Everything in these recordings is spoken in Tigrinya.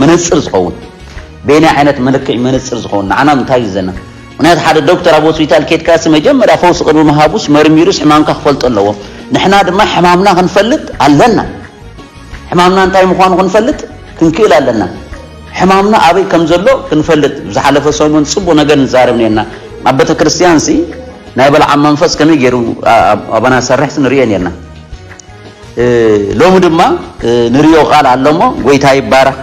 መነፅር ዝኸውን በየናይ ዓይነት መለክዒ መነፅር ዝኸውን ንዓና እንታይ እዩ ዘና ምክንያቱ ሓደ ዶክተር ኣብ ሆስፒታል ኬድካሲ መጀመርያ ፈውሲ ቅድሚ ምሃቡስ መርሚሩስ ሕማምካ ክፈልጦ ኣለዎ ንሕና ድማ ሕማምና ክንፈልጥ ኣለና ሕማምና እንታይ ምዃኑ ክንፈልጥ ክንክእል ኣለና። ሕማምና ኣበይ ከም ዘሎ ክንፈልጥ ብዝሓለፈ ሰሙን ጽቡቕ ነገር ንዛረብ ኔርና። ኣብ ቤተ ክርስቲያንሲ ናይ በልዓም መንፈስ ከመይ ገይሩ ኣባና ዝሰርሕሲ ንርእዮ ኔርና። ሎሚ ድማ ንርእዮ ቃል ኣለሞ ጎይታ ይባረኽ።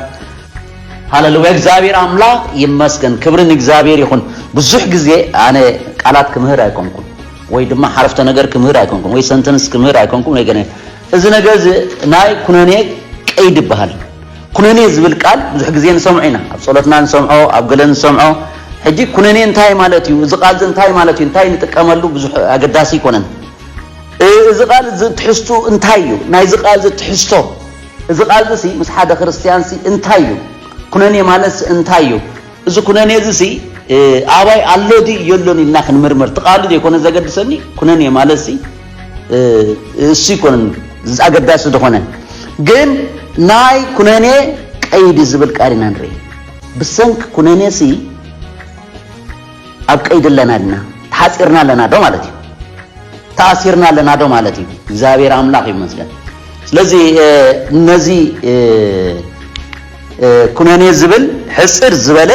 ሃለሉያ እግዚኣብሔር ኣምላኽ ይመስገን ክብሪ ንእግዚኣብሔር ይኹን ብዙሕ ግዜ ኣነ ቃላት ክምህር ኣይኮንኩም ወይ ድማ ሓረፍተ ነገር ክምህር ኣይኮንኩም ወይ ሰንተንስ ክምህር ኣይኮንኩም ወይ ገነ እዚ ነገር እዚ ናይ ኩነኔ ቀይዲ ይበሃል። ኩነኔ ዝብል ቃል ብዙሕ ግዜ ንሰምዖ ኢና። ኣብ ጸሎትና ንሰምዖ፣ ኣብ ገለ ንሰምዖ። ሕጂ ኩነኔ እንታይ ማለት እዩ? እዚ ቃል እዚ እንታይ ማለት እዩ? እንታይ ንጥቀመሉ? ብዙሕ ኣገዳሲ ኣይኮነን። እዚ ቃል እዚ ትሕዝትኡ እንታይ እዩ? ናይዚ ቃል እዚ ትሕዝቶ፣ እዚ ቃል እዚሲ ምስ ሓደ ክርስትያንሲ እንታይ እዩ? ኩነኔ ማለትሲ እንታይ እዩ? እዚ ኩነኔ እዚሲ ኣባይ ኣሎ ድዩ የሎን ኢልና ክንምርምር እቲ ቃሉ ዘይኮነ ዘገድሰኒ ኩነኔ ማለትሲ እሱ ይኮነን ኣገዳሲ ዝኾነ ግን ናይ ኩነኔ ቀይዲ ዝብል ቃል ኢና ንርኢ ብሰንኪ ኩነኔሲ ኣብ ቀይዲ ኣለና ድና ተሓፂርና ኣለና ዶ ማለት እዩ ተኣሲርና ኣለና ዶ ማለት እዩ እግዚኣብሔር ኣምላኽ ይመስገን ስለዚ ነዚ ኩነኔ ዝብል ሕጽር ዝበለ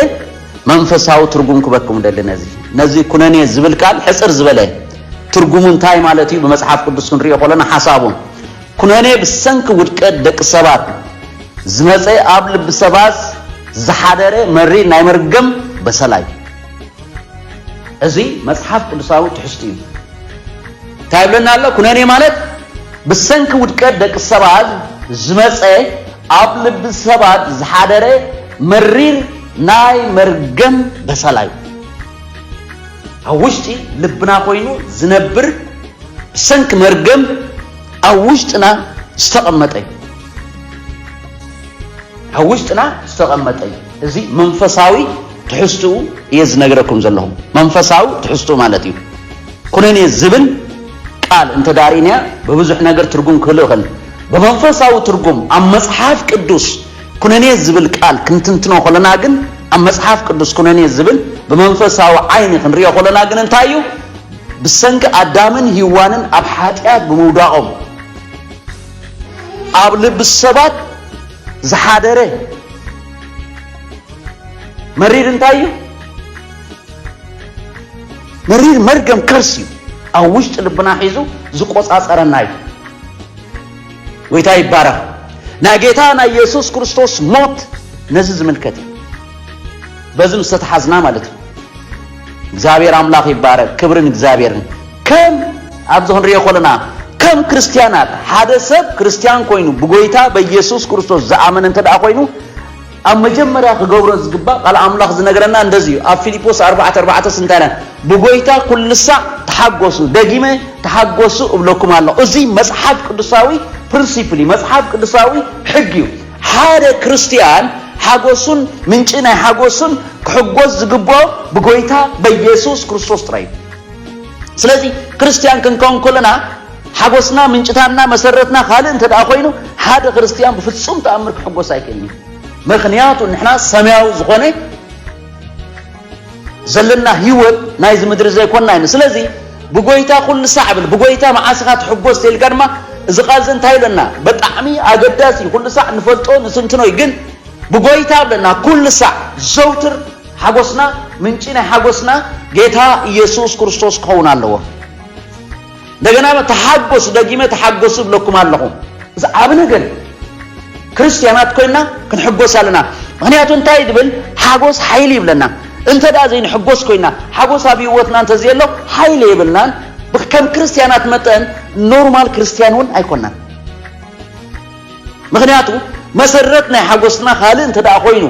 መንፈሳዊ ትርጉም ክበኩም ደሊ ነዚ ነዚ ኩነኔ ዝብል ቃል ሕጽር ዝበለ ትርጉሙ እንታይ ማለት እዩ ብመጽሓፍ ቅዱስ ክንሪኦ ከለና ሓሳቡ ኩነኔ ብሰንኪ ውድቀት ደቂ ሰባት ዝመጸ ኣብ ልቢ ሰባት ዝሓደረ መሪር ናይ መርገም በሰላ እዩ እዚ መጽሓፍ ቅዱሳዊ ትሕዝቱ እዩ እንታይ ይብለና ኣሎ ኩነኔ ማለት ብሰንኪ ውድቀት ደቂ ሰባት ዝመጸ ኣብ ልቢ ሰባት ዝሓደረ መሪር ናይ መርገም በሰላ'ዩ። ኣብ ውሽጢ ልብና ኮይኑ ዝነብር ብሰንኪ መርገም ኣብ ውሽጥና ዝተቐመጠ'ዩ። ኣብ ውሽጥና ዝተቐመጠ'ዩ። እዚ መንፈሳዊ ትሕዝትኡ እየ ዝነግረኩም ዘለኹ። መንፈሳዊ ትሕዝትኡ ማለት እዩ። ኩነኔ ዝብል ቃል እንተዳ ሪእናያ ብብዙሕ ነገር ትርጉም ክህልው ይኽእል። ብመንፈሳዊ ትርጉም ኣብ መጽሓፍ ቅዱስ ኩነኔ ዝብል ቃል ክንትንትኖ ከሎና ግን ኣብ መጽሓፍ ቅዱስ ኩነኔ ዝብል ብመንፈሳዊ ዓይኒ ክንሪኦ ከሎና ግን እንታይ እዩ ብሰንኪ ኣዳምን ሂዋንን ኣብ ሓጢኣት ብምውዳቆም ኣብ ልቢ ሰባት ዝሓደረ መሪር እንታይ እዩ መሪር መርገም ከርሲ እዩ ኣብ ውሽጢ ልብና ሒዙ ዝቆጻጸረና እዩ። ጎይታ ይባረኽ። ናይ ጌታ ናይ የሱስ ክርስቶስ ሞት ነዚ ዝምልከት እዩ። በዚ ምስ ተተሓዝና ማለት እዩ። እግዚኣብሔር ኣምላኽ ይባረክ ክብርን እግዚኣብሔርን ከም ኣብዚ ክንሪኦ ኮለና ከም ክርስትያናት ሓደ ሰብ ክርስትያን ኮይኑ ብጎይታ በኢየሱስ ክርስቶስ ዝኣመነ እንተ ኮይኑ ኣብ መጀመርያ ክገብሮ ዝግባእ ቃል ኣምላኽ ዝነግረና እንደዚ እዩ ኣብ ፊሊጶስ ኣርባዕተ ኣርባዕተ ስንታይ ኢልና ብጎይታ ኩልሳዕ ተሓጎሱ ደጊመ ተሓጎሱ እብለኩም ኣለኹ እዚ መጽሓፍ ቅዱሳዊ ፕርንሲፕል እዩ መጽሓፍ ቅዱሳዊ ሕጊ እዩ ሓደ ክርስትያን ሓጎሱን ምንጪ ናይ ሓጎሱን ክሕጎስ ዝግብኦ ብጎይታ በየሱስ ክርስቶስ ጥራይ እዩ ስለዚ ክርስትያን ክንከውን ከለና ሓጎስና ምንጭታና መሰረትና ካልእ እንተደኣ ኮይኑ ሓደ ክርስትያን ብፍጹም ተኣምር ክሕጎስ ኣይክእልን እዩ። ምክንያቱ ንሕና ሰማያዊ ዝኾነ ዘለና ህይወት ናይዚ ምድሪ ዘይኮንና ኢና። ስለዚ ብጎይታ ኩሉ ሳዕ ብል ብጎይታ መዓስ ኢኻ ትሕጎስ ተልካ ድማ እዚ ቃል እዚ እንታይ ኢለና ብጣዕሚ ኣገዳሲ እዩ። ኩሉ ሳዕ ንፈልጦ ንትንትኖ እዩ ግን ብጎይታ ብለና ኩሉ ሳዕ ዘውትር ሓጎስና ምንጪ ናይ ሓጎስና ጌታ ኢየሱስ ክርስቶስ ክኸውን ኣለዎ። እንደገና ተሓጎሱ ደጊመ ተሓጎሱ እብለኩም ኣለኹ። እዚ ዓቢ ነገር እዩ። ክርስትያናት ኮይና ክንሕጎስ ኣለና። ምክንያቱ እንታይ ድብል ሓጎስ ሓይሊ ይብለና። እንተ ደኣ ዘይንሕጎስ ኮይና ሓጎስ ኣብ ህይወትና እንተዘየሎ ሓይሊ የብልናን። ከም ክርስትያናት መጠን ኖርማል ክርስትያን እውን ኣይኮናን። ምኽንያቱ መሰረት ናይ ሓጎስና ካልእ እንተደኣ ኮይኑ፣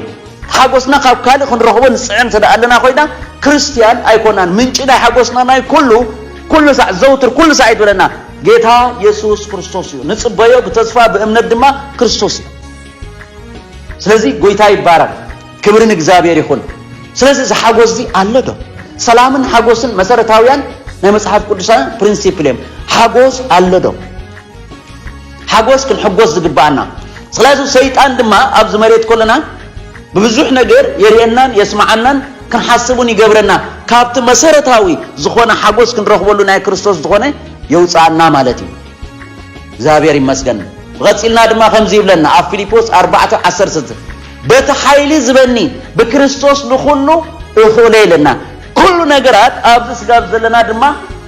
ሓጎስና ካብ ካልእ ክንረኽቦ ንጽዕር እንተደኣ ኣለና ኮይና፣ ክርስትያን ኣይኮናን። ምንጪ ናይ ሓጎስና ናይ ኩሉ ኩሉ ሳዕ ዘውትር ኩሉ ሳዕ ይትብለና ጌታ የሱስ ክርስቶስ እዩ። ንጽበዮ ብተስፋ ብእምነት ድማ ክርስቶስ እዩ። ስለዚ ጎይታ ይባረክ፣ ክብሪ ንእግዚኣብሔር ይኹን። ስለዚ እዚ ሓጎስ እዚ ኣሎ ዶ? ሰላምን ሓጎስን መሰረታውያን ናይ መጽሓፍ ቅዱሳውያን ፕሪንሲፕል እዮም። ሓጎስ ኣሎ ዶ? ሓጎስ ክንሕጎስ ዝግብኣና ስለዚ ሰይጣን ድማ ኣብዚ መሬት ኮለና ብብዙሕ ነገር የርእየናን የስምዓናን ክንሓስብ እውን ይገብረና ካብቲ መሰረታዊ ዝኾነ ሓጎስ ክንረኽበሉ ናይ ክርስቶስ ዝኾነ የውፅኣና ማለት እዩ እግዚኣብሔር ይመስገን ብቐፂልና ድማ ከምዚ ይብለና ኣብ ፊልጶስ ኣርባዕተ ዓሰርተ በቲ ሓይሊ ዝበኒ ብክርስቶስ ንኹሉ እኽእሎ ኢለና ኩሉ ነገራት ኣብዚ ስጋብ ዘለና ድማ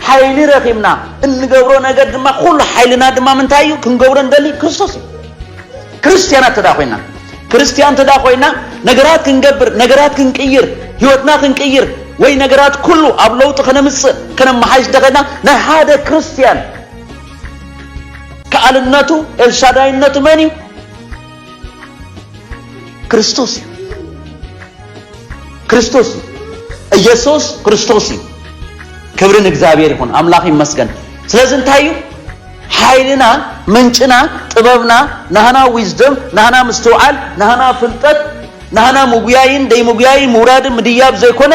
ሓይሊ ረኺብና እንገብሮ ነገር ድማ ኩሉ ሓይልና ድማ ምንታይ እዩ ክንገብሮ ንደሊ ክርስቶስ እዩ ክርስትያናት ተዳ ኮይና ክርስትያን ተዳ ኮይና ነገራት ክንገብር ነገራት ክንቅይር ህይወትና ክንቅይር ወይ ነገራት ኩሉ ኣብ ለውጢ ከነምፅእ ከነመሓይሽ ደኸና ናይ ሓደ ክርስትያን ከኣልነቱ ኤልሻዳይነቱ መን እዩ ክርስቶስ እዩ ክርስቶስ እዩ ኢየሱስ ክርስቶስ እዩ ክብሪ ንእግዚኣብሔር ይኹን ኣምላኽ ይመስገን ስለዚ እንታይ እዩ ሓይልና ምንጭና ጥበብና ናህና ዊዝደም ናህና ምስትውዓል ናህና ፍልጠት ናህና ምጉያይን ደይምጉያይን ምውራድን ምድያብ ዘይኮነ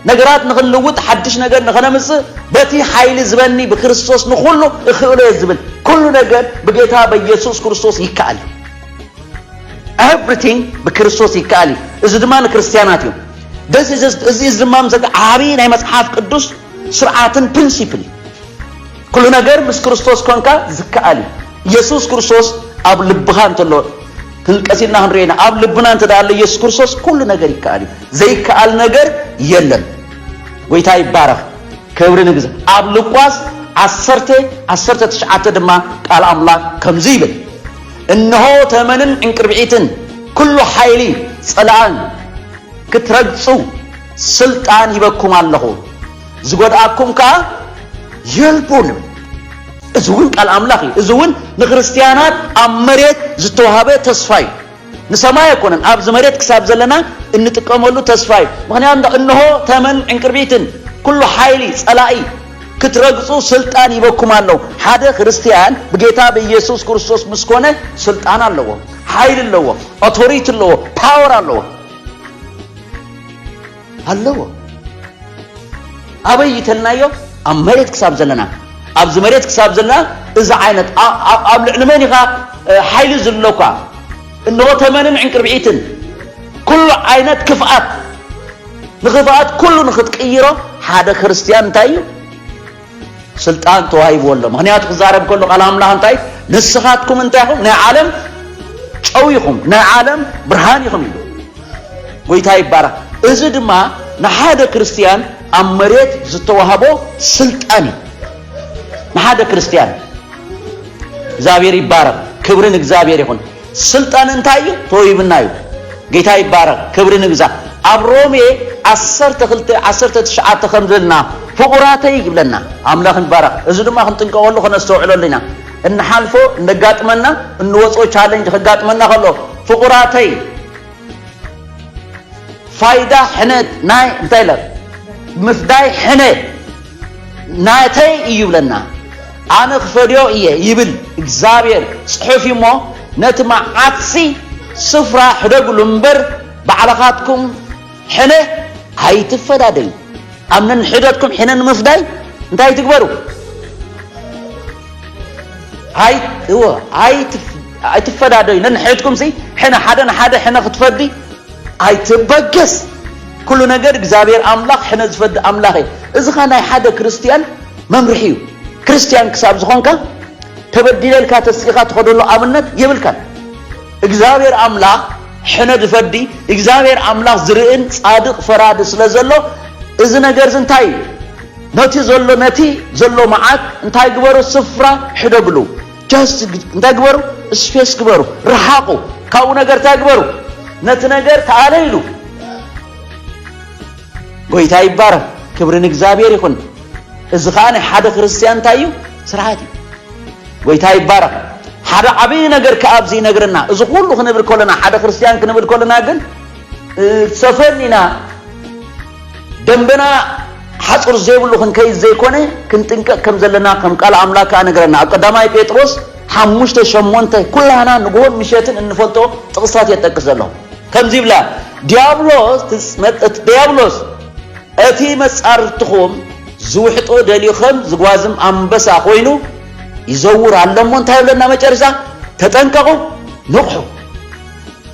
ነገራት ንኽንልውጥ ሓድሽ ነገር ንኸነምጽእ በቲ ሓይሊ ዝበኒ ብክርስቶስ ንኹሉ እኽእሎ እየ ዝብል ኩሉ ነገር ብጌታ በኢየሱስ ክርስቶስ ይከኣል እዩ ኤቭሪቲንግ ብክርስቶስ ይከኣል እዩ እዚ ድማ ንክርስትያናት እዩ እዚ ድማ ዓብዪ ናይ መጽሓፍ ቅዱስ ስርዓትን ፕሪንሲፕል እዩ ኩሉ ነገር ምስ ክርስቶስ ኮንካ ዝከኣል እዩ። ኢየሱስ ክርስቶስ ኣብ ልብኻ እንተሎ ክንቀስ ኢልና ክንሪኦ ኢና። ኣብ ልብና እንተ ኣሎ ኢየሱስ ክርስቶስ ኩሉ ነገር ይከኣል እዩ። ዘይከኣል ነገር የለን። ጎይታ ይባረኽ። ክብሪ ንግዘ ኣብ ሉቃስ ዓሰርተ ዓሰርተ ትሽዓተ ድማ ቃል ኣምላክ ከምዚ ይብል እነሆ ተመንን ዕንቅርብዒትን ኩሉ ሓይሊ ጸላእን ክትረግጹ ስልጣን ሂበኩም ኣለኹ ዝጎድኣኩም ከኣ የልቦን። እዚ እውን ቃል ኣምላኽ እዩ። እዚ እውን ንክርስትያናት ኣብ መሬት ዝተዋህበ ተስፋ እዩ። ንሰማይ ኣይኮነን፣ ኣብዚ መሬት ክሳብ ዘለና እንጥቀመሉ ተስፋ እዩ። ምክንያቱ እንሆ ተመን ዕንቅርቢትን ኩሉ ሓይሊ ጸላኢ ክትረግጹ ስልጣን ይበኩም ኣሎ። ሓደ ክርስትያን ብጌታ ብኢየሱስ ክርስቶስ ምስ ኮነ ስልጣን ኣለዎ፣ ሓይሊ ኣለዎ፣ ኦቶሪቲ ኣለዎ፣ ፓወር ኣለዎ። ኣለዎ ኣበይ ይተልናዮ ኣብ መሬት ክሳብ ዘለና ኣብዚ መሬት ክሳብ ዘለና እዚ ዓይነት ኣብ ልዕሊ መን ኢኻ ሓይሊ ዝለኳ እንሆ ተመንን ዕንቅርብዒትን ኩሉ ዓይነት ክፍኣት ንኽፍኣት ኩሉ ንኽትቅይሮ ሓደ ክርስትያን እንታይ እዩ ስልጣን ተዋሂብዎ ኣሎ ምክንያቱ ክዛረብ ከሎ ቃል ኣምላኽ እንታይ ንስኻትኩም እንታይ ኢኹም ናይ ዓለም ጨው ኢኹም ናይ ዓለም ብርሃን ኢኹም ኢሉ ጎይታ ይባረኽ እዚ ድማ ንሓደ ክርስትያን ኣብ መሬት ዝተዋህቦ ስልጣን እዩ ንሓደ ክርስትያን እግዚኣብሔር ይባረኽ ክብርን እግዚኣብሔር ይኹን ስልጣን እንታይ እዩ ተወሂብና እዩ ጌታ ይባረኽ ክብሪ ንግዛ ኣብ ሮሜ ዓሰርተ ክልተ ዓሰርተ ትሽዓተ ከም ዝብልና ፍቑራተይ ይብለና ኣምላኽ ይባረኽ እዚ ድማ ክንጥንቀቐሉ ከነስተውዕለሉ ኢና እንሓልፎ እነጋጥመና እንወፅኦ ቻለንጅ ከጋጥመና ከሎ ፍቑራተይ ፋይዳ ሕነ ናይ እንታይ ለ ምፍዳይ ሕነ ናተይ እዩ ይብለና ኣነ ክፈድዮ እየ ይብል እግዚኣብሔር ጽሑፍ እሞ ነቲ መዓትሲ ስፍራ ሕደግሉ እምበር ባዕልኻትኩም ሕነ ኣይትፈዳደዩ ኣብ ነንሕደትኩም ሕነ ንምፍዳይ እንታይ ትግበሩ ኣይትፈዳደዩ ነንሕድኩም ሲ ሕነ ሓደ ንሓደ ሕነ ክትፈዲ ኣይትበገስ ኩሉ ነገር እግዚኣብሔር ኣምላኽ ሕነ ዝፈድእ ኣምላኽ እየ እዚኻ ናይ ሓደ ክርስትያን መምርሒ እዩ ክርስትያን ክሳብ ዝኾንካ ተበዲለልካ ተስኢኻ ትኸደሉ ኣብነት የብልካን እግዚኣብሔር ኣምላኽ ሕነ ዝፈዲ እግዚኣብሔር ኣምላኽ ዝርእን ጻድቕ ፈራዲ ስለ ዘሎ እዚ ነገር እዚ እንታይ እዩ ነቲ ዘሎ ነቲ ዘሎ መዓት እንታይ ግበሩ ስፍራ ሕደግሉ ጃስት እንታይ ግበሩ ስፔስ ግበሩ ረሓቑ ካብኡ ነገር እንታይ ግበሩ ነቲ ነገር ተኣለ ኢሉ ጎይታ ይባረኽ ክብሪ ንእግዚኣብሔር ይኹን እዚ ከዓ ናይ ሓደ ክርስትያን እንታይ እዩ ስርዓት እዩ ጎይታ ይባረኽ ሓደ ዓብዪ ነገር ከዓ ኣብዚ ይነግረና እዚ ኩሉ ክንብል ከለና ሓደ ክርስትያን ክንብል ከለና ግን ሰፈን ኢና ደምበና ሓጹር ዘይብሉ ክንከይድ ዘይኮነ ክንጥንቀቅ ከም ዘለና ከም ቃል ኣምላክ ከኣ ነገረና ኣብ ቀዳማይ ጴጥሮስ ሓሙሽተ ሸሞንተ ኩላህና ንግሆን ምሸትን እንፈልጦ ጥቅስታት እየ ጠቅስ ዘሎ ከምዚ ይብላ ዲያብሎስ ዲያብሎስ እቲ መጻርትኹም ዝውሕጦ ደልዩ ከም ዝጓዝም ኣንበሳ ኮይኑ ይዘውር ኣሎ እሞ እንታይ ይብለና መጨረሻ ተጠንቀቁ ንቕሑ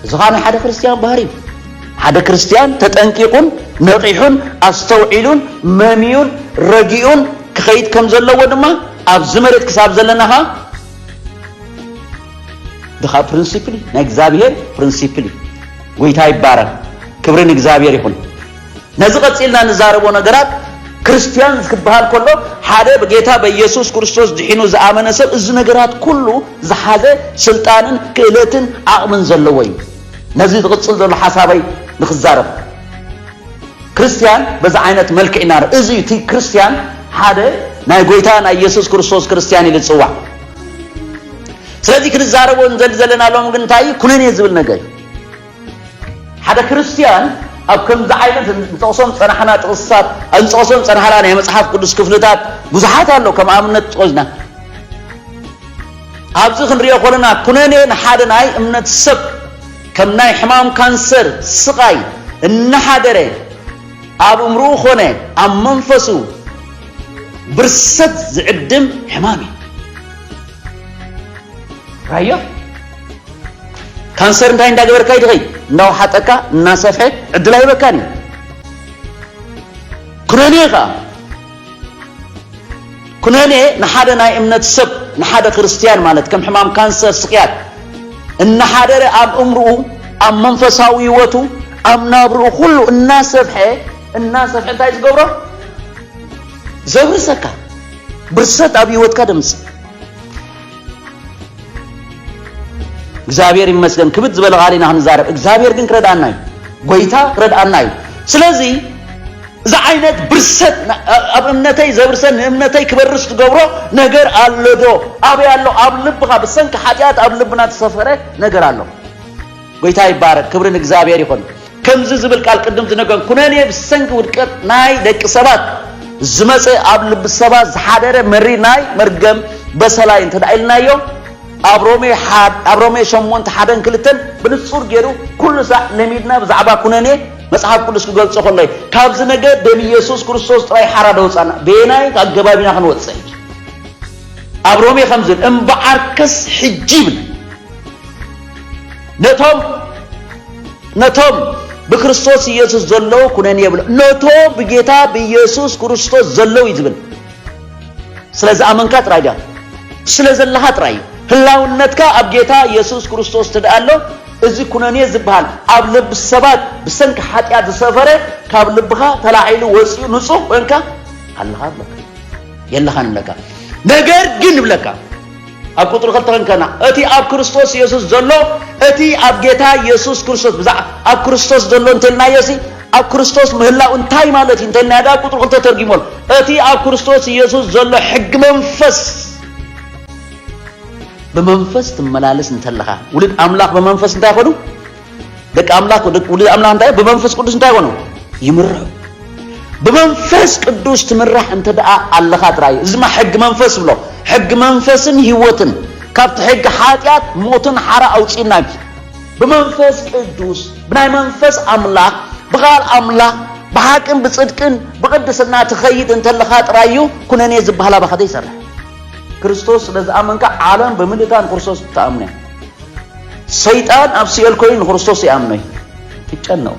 እዚ ኸኣ ናይ ሓደ ክርስትያን ባህሪ እዩ። ሓደ ክርስትያን ተጠንቂቑን ነቒሑን ኣስተውዒሉን መምዩን ረጊኡን ክኸይድ ከም ዘለዎ ድማ ኣብዚ መሬት ክሳብ ዘለና ኸኣ ድኻ ፕሪንሲፕል እዩ። ናይ እግዚኣብሄር ፕሪንሲፕል እዩ። ጐይታ ይባረኽ። ክብሪ ንእግዚኣብሄር ይኹን። ነዚ ቀጺልና እንዛረቦ ነገራት ክርስትያን ክበሃል ከሎ ሓደ ብጌታ በኢየሱስ ክርስቶስ ድሒኑ ዝኣመነ ሰብ እዚ ነገራት ኩሉ ዝሓዘ ስልጣንን ክእለትን ዓቕምን ዘለዎ እዩ። ነዚ ዝቕጽል ዘሎ ሓሳበይ ንክዛረብ ክርስትያን በዚ ዓይነት መልክዕ ኢና እዚ እዩ እቲ ክርስትያን ሓደ ናይ ጎይታ ናይ ኢየሱስ ክርስቶስ ክርስትያን ኢሉ ዝጽዋዕ ስለዚ ክንዛረቦ ንዘሊ ዘለና ሎም ግን እንታይ ኩነኔ ዝብል ነገር እዩ ሓደ ክርስትያን ኣብ ከምዚ ዓይነት ንጠቕሶም ዝጸናሕና ጥቕስታት እንጠቕሶም ዝጸናሕና ናይ መጽሓፍ ቅዱስ ክፍልታት ብዙሓት ኣሎ ከም ኣብነት ጥቕስና ኣብዚ ክንሪኦ ኮለና ኩነኔ ንሓደ ናይ እምነት ሰብ ከም ናይ ሕማም ካንሰር ስቓይ እናሓደረ ኣብ እምርኡ ኮነ ኣብ መንፈሱ ብርሰት ዝዕድም ሕማም እዩ ራዮ ካንሰር እንታይ እንዳገበርካ ይድኸይ እንዳውሓጠካ እናሰፍሐ ዕድል ኣይበካን እዩ ኩነኔ ከዓ ኩነኔ ንሓደ ናይ እምነት ሰብ ንሓደ ክርስትያን ማለት ከም ሕማም ካንሰር ስቅያት እናሓደረ ኣብ እምርኡ ኣብ መንፈሳዊ ህይወቱ ኣብ ናብርኡ ኩሉ እናሰፍሐ እናሰፍሐ እንታይ ዝገብሮ ዘብርሰካ ብርሰት ኣብ ህይወትካ ደምፅ እግዚኣብሔር ይመስገን ክብድ ዝበለ ቃል ኢና ክንዛረብ እግዚኣብሔር ግን ክረድኣና እዩ ጎይታ ክረድኣና እዩ ስለዚ እዚ ዓይነት ብርሰት ኣብ እምነተይ ዘብርሰን ንእምነተይ ክበርስ ዝገብሮ ነገር ኣሎ ዶ ኣበይ ኣሎ ኣብ ልብኻ ብሰንኪ ሓጢኣት ኣብ ልብና ተሰፈረ ነገር ኣሎ ጎይታ ይባረክ ክብሪ ንእግዚኣብሔር ይኹን። ከምዚ ዝብል ቃል ቅድም ዝነገን ኩነኔ ብሰንኪ ውድቀት ናይ ደቂ ሰባት ዝመጸ ኣብ ልቢ ሰባት ዝሓደረ መሪር ናይ መርገም በሰላይ እንተ ኢልናዮ ኣብ ሮሜ ሓድ ኣብ ሮሜ ሸሞንተ ሓደን ክልተን ብንጹር ገይሩ ኩሉ ሳዕ ለሚድና ብዛዕባ ኩነኔ መጽሓፍ ቅዱስ ክገልጾ ከሎ እዩ። ካብዚ ነገር ደም ኢየሱስ ክርስቶስ ጥራይ ሓራ ደውጻና በየናይ ኣገባብ ኢና ክንወጽእ ኣብ ሮሜ ከምዚ እምበዓርከስ ሕጂ ይብል ነቶም ነቶም ብክርስቶስ ኢየሱስ ዘለዉ ኩነኔ የብሎ ነቶ ብጌታ ብኢየሱስ ክርስቶስ ዘለዉ እዩ ዝብል ስለ ዝኣመንካ ጥራይ ድያ ስለ ዘለኻ ጥራይ እዩ ህላውነትካ ኣብ ጌታ ኢየሱስ ክርስቶስ ትድኣ ኣሎ እዚ ኩነኔ ዝበሃል ኣብ ልቢ ሰባት ብሰንኪ ሓጢኣት ዝሰፈረ ካብ ልብኻ ተላዒሉ ወፂኡ ንፁህ ኮንካ ኣለኻ ብለካ የለኻን ብለካ ነገር ግን ብለካ ኣብ ቁጽሪ ክልተ ክንከና እቲ ኣብ ክርስቶስ የሱስ ዘሎ እቲ ኣብ ጌታ የሱስ ክርስቶስ ብዛዕ ኣብ ክርስቶስ ዘሎ እንተልናዮሲ ኣብ ክርስቶስ ምህላው እንታይ ማለት እዩ እንተልናዮ ዳ ቁጽሪ ክልተ ተርጊሞል እቲ ኣብ ክርስቶስ የሱስ ዘሎ ሕጊ መንፈስ ብመንፈስ ትመላለስ እንተለኻ ውሉድ ኣምላኽ ብመንፈስ እንታይ ኮኑ ደቂ ኣምላክ ውሉድ ኣምላክ እንታይ ብመንፈስ ቅዱስ እንታይ ኮኑ ይምርሑ ብመንፈስ ቅዱስ ትምራሕ እንተ ደኣ ኣለኻ ጥራይ እዚ ድማ ሕጊ መንፈስ ብሎ ሕጊ መንፈስን ህይወትን ካብቲ ሕጊ ሓጢኣት ሞትን ሓራ ኣውፅና ብመንፈስ ቅዱስ ብናይ መንፈስ ኣምላኽ ብቓል ኣምላኽ ብሓቅን ብፅድቅን ብቅድስና ትኸይድ እንተለኻ ጥራይ እዩ ኩነኔ ዝበሃል ኣባኻ ዘይሰርሕ ክርስቶስ ስለ ዝኣመንካ ዓለም ብምልእታ ንክርስቶስ ትኣምነ ሰይጣን ኣብ ሲኦል ኮይኑ ንክርስቶስ ይኣምኖ እዩ ይጨነቑ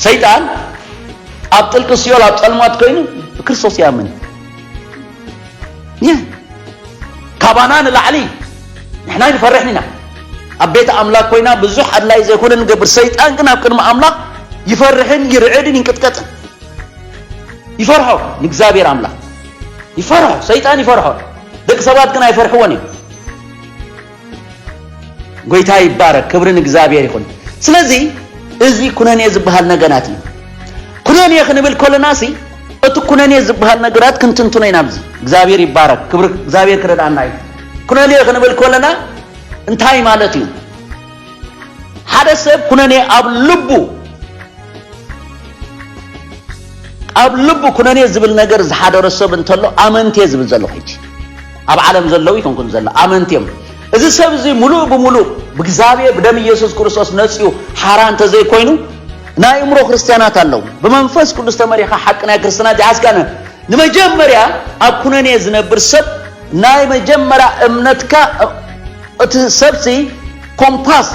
ሰይጣን ኣብ ጥልቂ ሲኦል ኣብ ጸልማት ኮይኑ ብክርስቶስ ይኣምን እዩ ካባና ንላዕሊ ንሕና ይንፈርሕን ኢና ኣብ ቤት ኣምላክ ኮይና ብዙሕ ኣድላይ ዘይኮነ ንገብር ሰይጣን ግን ኣብ ቅድሚ ኣምላክ ይፈርሕን ይርዕድን ይንቅጥቀጥን ይፈርሖ ንእግዚኣብሔር ኣምላክ ይፈርሖ ሰይጣን ይፈርሖ ደቂ ሰባት ግን ኣይፈርሕዎን እዮም ጎይታ ይባረክ ክብሪ ንእግዚኣብሔር ይኹን ስለዚ እዚ ኩነኔ ዝበሃል ነገራት እዩ ኩነኔ ክንብል ኮለና ሲ እቲ ኩነኔ ዝበሃል ነገራት ክንትንትኖ ኢና ኣብዚ እግዚኣብሔር ይባረክ ክብሪ እግዚኣብሔር ክረዳእና እዩ ኩነኔ ክንብል ኮለና እንታይ ማለት እዩ ሓደ ሰብ ኩነኔ ኣብ ልቡ ኣብ ልቡ ኩነኔ ዝብል ነገር ዝሓደሮ ሰብ እንተሎ ኣመንቴ ዝብል ዘለኹ ሕጂ ኣብ ዓለም ዘለዉ ኣይኮንኩን ዘሎ ኣመንቲ እዮም እዚ ሰብ እዚ ሙሉእ ብሙሉእ ብእግዚኣብሔር ብደም ኢየሱስ ክርስቶስ ነጽዩ ሓራ እንተዘይኮይኑ ናይ እምሮ ክርስትያናት ኣለዉ ብመንፈስ ቅዱስ ተመሪኻ ሓቂ ናይ ክርስትና ዚሓዝካነ ንመጀመርያ ኣብ ኩነኔ ዝነብር ሰብ ናይ መጀመርያ እምነትካ እቲ ሰብሲ ኮምፓስ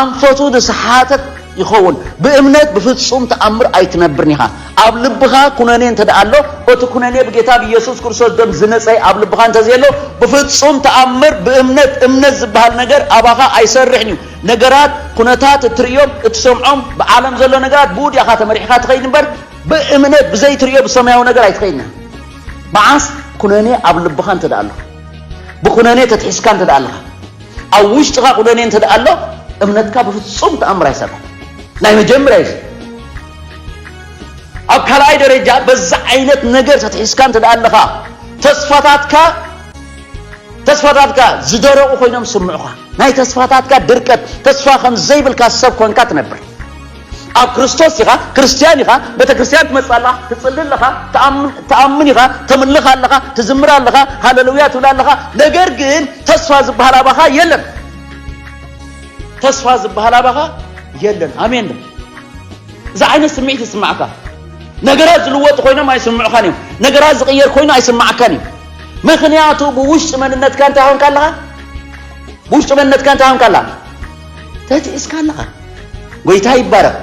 ኣንፈቱ ዝሰሓተት ይኸውን ብእምነት ብፍጹም ተኣምር ኣይትነብርን ኢኻ ኣብ ልብኻ ኩነኔ እንተ ደኣ ኣሎ፣ በቲ ኩነኔ ብጌታ ብየሱስ ክርስቶስ ደም ዝነጸየ ኣብ ልብኻ እንተ ዘየሎ፣ ብፍጹም ተኣምር ብእምነት እምነት ዝበሃል ነገር ኣባኻ ኣይሰርሕን እዩ። ነገራት፣ ኩነታት፣ እትርእዮም እትሰምዖም፣ ብዓለም ዘሎ ነገራት ብኡ ዲኻ ተመሪሕካ ትኸይድ እምበር፣ ብእምነት ብዘይ ትርእዮ ብሰማያዊ ነገር ኣይትኸይድን ኢኻ። መዓስ ኩነኔ ኣብ ልብኻ እንተ ደኣ ኣሎ፣ ብኩነኔ ተትሒዝካ እንተ ደኣ ኣለኻ፣ ኣብ ውሽጥኻ ኩነኔ እንተ ደኣ ኣሎ፣ እምነትካ ብፍጹም ተኣምር ኣይሰርሕን። ናይ መጀመርያ እዩ እዚ። ኣብ ካልኣይ ደረጃ በዚ ዓይነት ነገር ተትሒዝካ እንተ ኣለኻ ተስፋታትካ ተስፋታትካ ዝደረቑ ኮይኖም ስምዑኻ ናይ ተስፋታትካ ድርቀት ተስፋ ከም ዘይብልካ ሰብ ኮንካ ትነብር ኣብ ክርስቶስ ኢኻ ክርስትያን ኢኻ ቤተ ክርስትያን ትመጽእ ኣለኻ ትጽሊ ኣለኻ ትኣምን ኢኻ ተምልኽ ኣለኻ ትዝምር ኣለኻ ሃለሉያ ትብል ኣለኻ ነገር ግን ተስፋ ዝበሃል ኣባኻ የለን ተስፋ ዝበሃል ኣባኻ የለን ኣሜን እዚ ዓይነት ስምዒት ይስማዕካ። ነገራት ዝልወጡ ኮይኖም ኣይስምዑኻን እዮም። ነገራት ዝቕየር ኮይኑ ኣይስማዓካን እዩ። ምክንያቱ ብውሽጢ መንነትካ እንታይ ሆንካ ኣለኻ? ብውሽጢ መንነትካ እንታይ ሆንካ ኣለኻ? ተቲእስካ ኣለኻ። ጎይታ ይባረኽ፣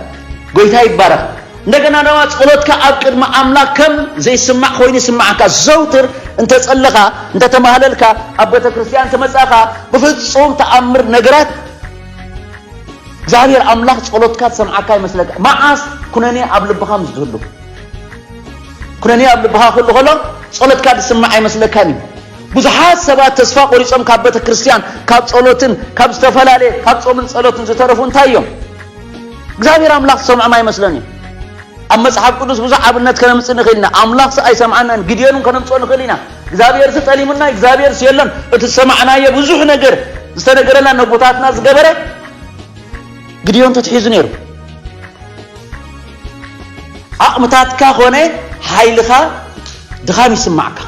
ጎይታ ይባረኽ። እንደገና ድማ ጸሎትካ ኣብ ቅድሚ ኣምላኽ ከም ዘይስማዕ ኮይኑ ይስምዓካ። ዘውትር እንተጸለኻ፣ እንተተማህለልካ፣ ኣብ ቤተ ክርስቲያን እንተመጻእካ ብፍጹም ተኣምር ነገራት እግዚኣብሔር ኣምላኽ ጸሎትካ ዝሰምዓካ ይመስለካ መዓስ ኩነኔ ኣብ ልብኻ ምስ ዝህሉ ኩነኔ ኣብ ልብኻ ክህሉ ከሎ ጸሎትካ ዝስማዕ ኣይመስለካን እዩ ብዙሓት ሰባት ተስፋ ቆሪጾም ካብ ቤተ ክርስቲያን ካብ ጸሎትን ካብ ዝተፈላለየ ካብ ጾምን ጸሎትን ዝተረፉ እንታይ እዮም እግዚኣብሔር ኣምላኽ ዝሰምዖም ኣይመስለን እዩ ኣብ መጽሓፍ ቅዱስ ብዙሕ ኣብነት ከነምጽእ ንኽእል ኢና ኣምላኽ ስ ኣይሰምዓናን ግድዮን ከነምጽኦ ንኽእል ኢና እግዛብሄርሲ ጠሊሙና እግዛብሄርሲ የሎን እቲ ዝሰማዕናዮ ብዙሕ ነገር ዝተነገረና ነቦታትና ዝገበረ ግድዮን ተትሒዙ ነይሩ ዓቕምታትካ ኮነ ሓይልኻ ድኻም ይስማዕካ